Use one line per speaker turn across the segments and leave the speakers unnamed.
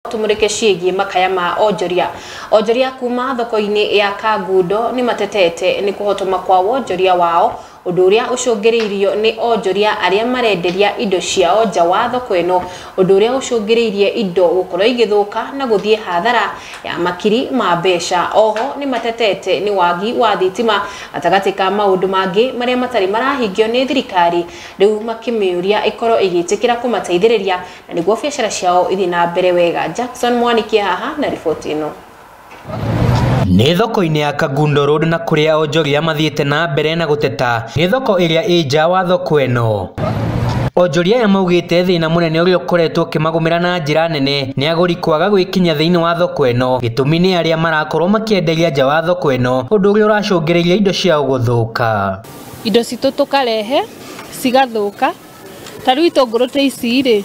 tumurike ciĩgiĩ makaya ma onjoria onjoria kuma thoko-inĩ ya kangundo nĩ matetete nĩ kũhotoma kwa wonjoria wao ũndũ ũrĩa ũcũngĩrĩirio nĩ onjoria arĩa marenderia indo ciao nja wa thoko ĩno ũndũ ũrĩa ũcũngĩrĩirie indo gũkorwo igĩthũka na gũthiĩ hathara ya makiri ma mbeca oho nĩ matetete nĩ wagi wa thitima gatagatĩ ka maũndũ mangĩ marĩa matarĩ marahingio nĩ thirikari rĩu makĩmĩũria ĩkorwo ĩgĩtĩkĩra kũmateithĩrĩria Na nĩguo biacara ciao ithiĩ na mbere wega, Jackson Mwaniki e haha na riboti ĩno.
Nĩ thoko-inĩ ya Kagundo Road na kũrĩa onjoria mathiĩte na mbere na gũteta nĩ thoko ĩrĩa ĩ nja wa thoko ĩno. Onjoria aya maugĩte thĩna mũnene ũrĩa ũkoretwo ũkĩmagũmĩra na njĩra nene nĩ agũri kwaga gwĩkinyia thĩinĩ wa thoko ĩno, gĩtũmi nĩ arĩa marakorwo makĩenderia nja wa thoko ĩno, ũndũ ũrĩa ũracũngĩrĩria indo ciao gũthũka. Indo citũ
tũkarehe cigathũka Ta rĩu itũngũrũ ta ici rĩ,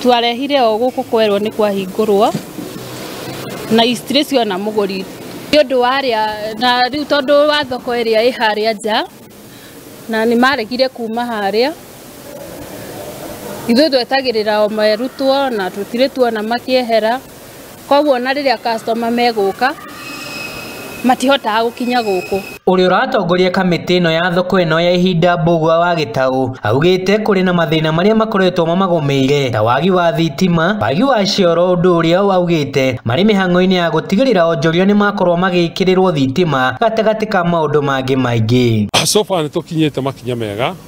twarehire o gũkũ kwerwo nĩ kwahingũrwo na itirĩ ciona mũgũri nĩ ũndũ wa arĩa, na rĩu tondũ wa thoko ĩrĩa ĩ harĩa nja, na nĩ maregire kuma harĩa. Ithuĩ twetagĩrĩra o merutwo na tũtirĩ tuona makĩehera. koguo ona rĩrĩa customer megũka matihotaga gũkinya gũkũ. Ũrĩa ũratongoria
kamĩtĩ ĩno ya thoko ĩno ya ihinda Mbũgua wa Gĩtaũ augĩte kũrĩ na mathĩna marĩa makoretwo mamagũmĩire ta wagi wa thitima, wagi wa cioro ũndũ ũrĩa augĩte marĩ mĩhang'o-inĩ ya gũtigĩrĩra onjoria nĩmakorwo magĩkĩrĩrwo thitima gatagatĩ ka maũndũ mangĩ maingĩ. So far nĩtũkinyĩte
makinya mega.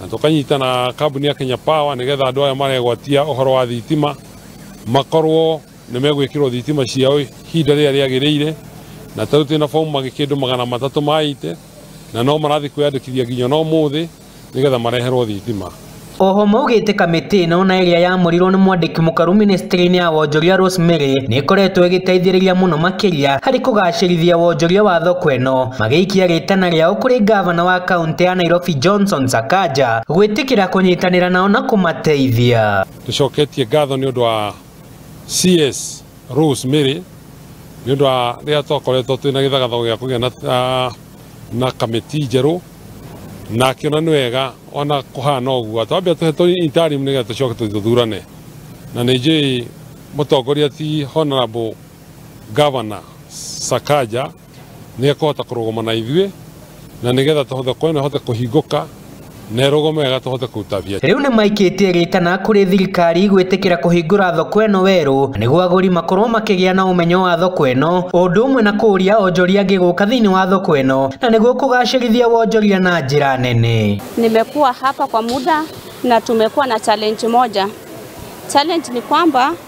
na tũkanyita na kambuni ya Kenya Power nigetha andå aya maregwatia horo wa thitima makorwo nä megwä kä rwo thitima ciao ihinda rä rä a rä agä rä ire na tarä twä na bomu magä kä ndå magana matatå maite na no marathiä kwä yandä kithia nginya no må thä nä getha mareherwo thitima Oho maugĩte
kamĩtĩ ĩno na ĩrĩa yamũrirwo nĩ mwandĩki mũkaru ministry-inĩ ya wonjoria Rosemary nĩ ĩkoretwo ĩgĩteithĩrĩria mũno makĩria harĩ kũgacĩrithia wonjoria wa thoko ĩno magĩikia rĩtana rĩao kũrĩ ngavana wa kaunti kaunti ya Nairobi Johnson Sakaja gwĩtĩkĩra kũnyitanĩra nao na kũmateithia. tucoketie ngatho
nĩ ũndũ wa CS Rose Mary nĩ ũndũ wa rĩrĩa twakoretwo twĩ na gĩthagathago gĩa kũgĩa na, ah, na kamĩti njerũ na akĩona nĩ wega ona kũhana ũguo twambia tũhetwo interim nĩgetha tũcoke tũthurane na nĩ njũĩ mũtongoria ti honorable governor Sakaja Nĩ ekũhota kũrũgama na ithuĩ, na nĩ getha thoko ĩno ĩhote kũhingũka na ĩrũgame wega tũhote kũruta biacara. Rĩu nĩmaikĩtie
rĩtana kũrĩ thirikari gwĩtĩkĩra kũhingũra thoko ĩno werũ nĩguo agũri makorwo makĩgĩa na ũmenyo wa thoko ĩno o ũndũ ũmwe na kũria onjoria angĩ gũka thĩinĩ wa thoko ĩno na nĩguo kũgacĩrithia wonjoria na njĩra nene. Nimekuwa hapa
kwa muda na tumekuwa na challenge moja. Challenge ni kwamba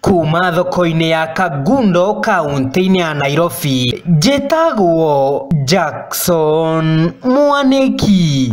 Kuuma thoko-inĩ ya Kangundo kaũntĩ-inĩ ya Nairobi, njĩtagwo Jackson Mwanĩki.